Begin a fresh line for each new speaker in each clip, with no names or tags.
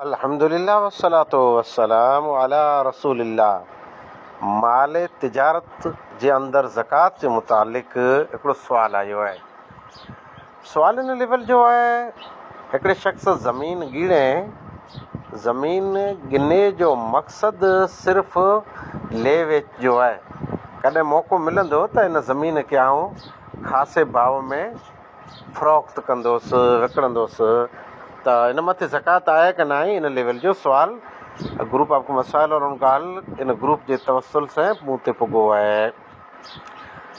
الحمد لله والصلوة والسلام علی رسول الله مال تجارت جي اندر زڪوات جي متعلق هڪڙو سوال آيو آهي سوال ان ليول جو آهي هڪڙي شخص زمين ڳڻي زمين ڳني جو مقصد صرف لي ويچ جو آهي ڪڏهن موقعو ملندو ته ان زمين کي آئون خاصي ڀاء ۾ فروخت ڪندوس، وڪڻندوس ته ان مٿي زڪوات آهي ڪه ناهي ان ليول جو سوال A گروپ آف مسائل اور ان ڳالهه ان گروپ جي توسل سين مون تي پڳو آهي.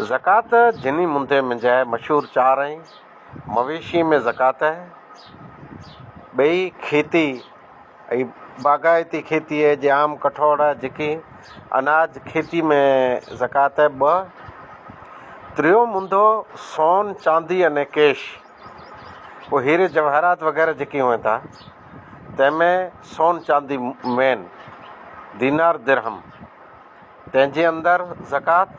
زڪوات جني مندي منجهه مشهور چار آهي، مويشي ۾ زڪوات آهي، ٻئي کيتي اي باغائتي کيتي اي جام ڪٺوڙ جيڪي اناج کيتي م زڪات اي ٻه تريو منڌو سون چاندي اني ڪيش او هيري جوهرات وغيره جيڪي هئين ٿا تنهن م سون چاندي مين دينار درهم تنهن جي اندر زڪات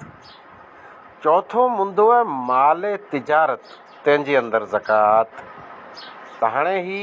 چوٿو منڌو اي مالي تجارت تنهن جي اندر زڪات ته هاڻي هي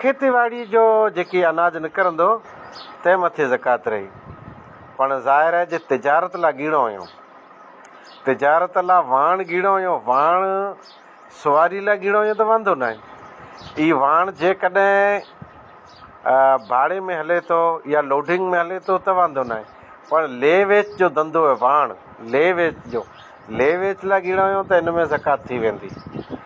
کيتي ٻاڙي جو جيڪي اناج نڪرندو تنهن مٿي زڪوات رهي. پڻ ظاهر آهي جي تجارت لا ڳيڻو هيون. تجارت لا واڻ ڳيڻو هيون. واڻ سواري لا ڳيڻو هيون ته واندو ناهي. اي واڻ جيڪڏهن ڀاڙي ۾ هلي ٿو يا لوڊنگ ۾ هلي ٿو ته واندو ناهي. پڻ لي ويچ جو ڌنڌو هي واڻ لي ويچ جو لي ويچ لا ڳيڻو هيون ته ان ۾ زڪوات ٿي ويندي.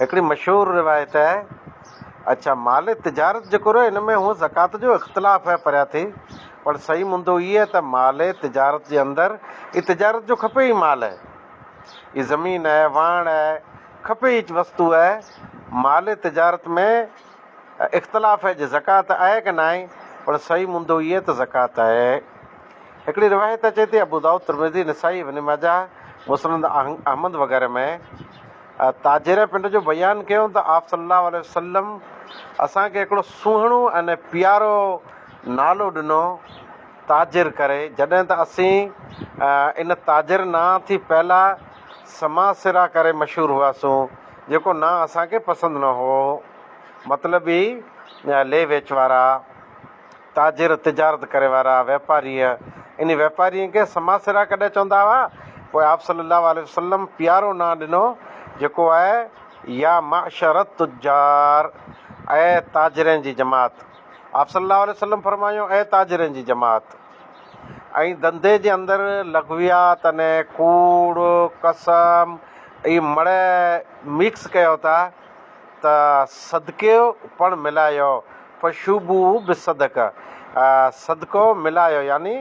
هڪڙي مشهور روايت آهي. اڇا مال تجارت جيڪو رهيو ان ۾ هونء زڪوات جو اختلاف آهي پريا ٿي پر صحيح مندو هي آهي ته مال تجارت جي اندر ئي تجارت جو کپي ئي مال آهي ئي زمين آهي واهڻ آهي کپي ئي وستو آهي مال تجارت ۾ اختلاف آهي جي زڪوات آهي ڪه ناهي پر صحيح مندو هي آهي ته زڪوات آهي. هڪڙي روايت اچي ٿي ابودائود ترمذي نسائي ابن ماجه مسند احمد وغيره ۾ تاجيره پنڊ جو بيان ڪيون ته آپ صلي الله عليه وسلم اسان کي هڪڙو سهڻو ۽ پيارو نالو ڏنو تاجر ڪري جڏهن ته اسين ان تاجر نانء ٿي پهلا سماسره ڪري مشهور هئاسون جيڪو نانء اسان کي پسند نه هئو مطلب هي لي ويچ وارا تاجر، تجارت ڪري وارا، واپاريء، انهي واپارين کي سما سرا ڪڏهن چوندا هئا، پوء آپ صلّي اللّٰه عليه وسلّم پيارو نانء ڏنو جيڪو آهي، يا معشر التجّار، اي تاجرين جي جماعت! آپ صلّي اللّٰه عليه وسلّم فرمايو، اي تاجرين جي جماعت! ۽ ڌنڌي جي اندر لغويات يعني ڪوڙ، قسم، ۽ مڙهه ميڪس ڪيو ٿا، ته صدقو پڻ ملايو، فشوبو بالصدقه، صدقو ملايو يعني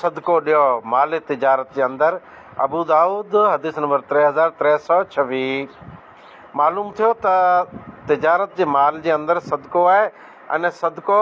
صدقو ڏيو، مالي تجارت جي اندر، ابودائود، حديث نمبر ٽي هزار ٽي سؤ ڇويهه، معلوم ٿيو ته تجارت جي مال جي اندر صدقو آهي ۽ صدقو.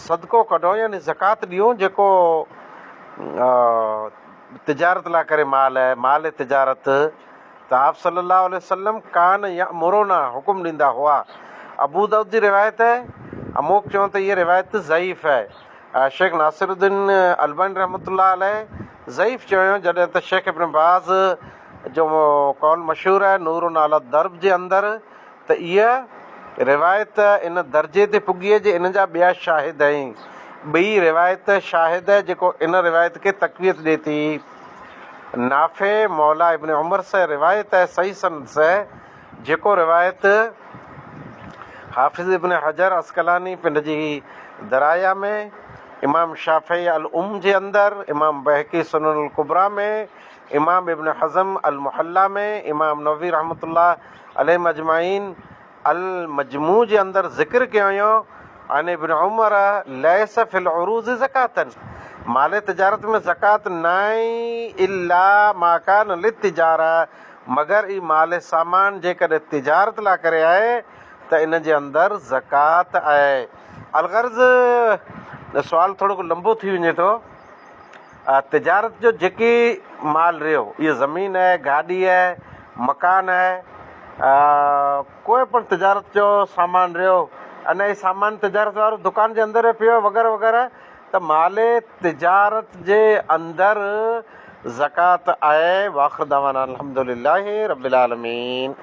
صدقو ڪڍو يعني زڪوات ڏيون جيڪو تجارت لاء ڪري مال اهي مال تجارت ته آپ صلّي اللّٰه عليه وسلّم ڪان يامرونا حڪم ڏيندا هئا ابودائود جي روايت اهي اموڪ چون ته هيء روايت ضعيف اهي شيخ ناصر الدين الباني رحمة الله عليه ضعيف چيو جڏهن ته شيخ ابن باز جو قول مشهور اهي نور علي الدرب جي اندر ته اها روايت ان درجي تي پڳي جي ان جا ٻيا شاهد ۽، ٻئي، روايت شاهد جيڪو ان روايت کي تقويت ڏي ٿي. نافع موليٰ ابن عمر سه روايت صحيح سند سه جيڪو روايت حافظ ابن حجر عسقلاني پنڊ جي درايه ۾، امام شافعي الام جي اندر، امام بيهقي سنن الڪبريٰ ۾، امام ابن حزم المحليٰ ۾، امام نووي رحمة الله عليهم اجمعين المجموع جي اندر ذڪر ڪيو وڃو عن ابن عمر ليس في العروض زڪاة مال تجارت ۾ زڪوات ناهي الا ما ڪان للتجارة مگر اي مال سامان جيڪڏهن تجارت لاء ڪري آهي ته ان جي اندر زڪوات آهي الغرض سوال ٿورو ڪو لنبو ٿي وڃي ٿو. تجارت جو جيڪي مال رهيو اهو زمين آهي، گاڏي آهي، مڪان آهي، ڪوئي پڻ تجارت جو سامان رهيو ان جي سامان تجارت وارو دڪان جي اندر رهي پيو وغيره وغيره ته مال تجارت جي اندر زڪوات آهي واخر دعوانا الحمد لله رب العالمين.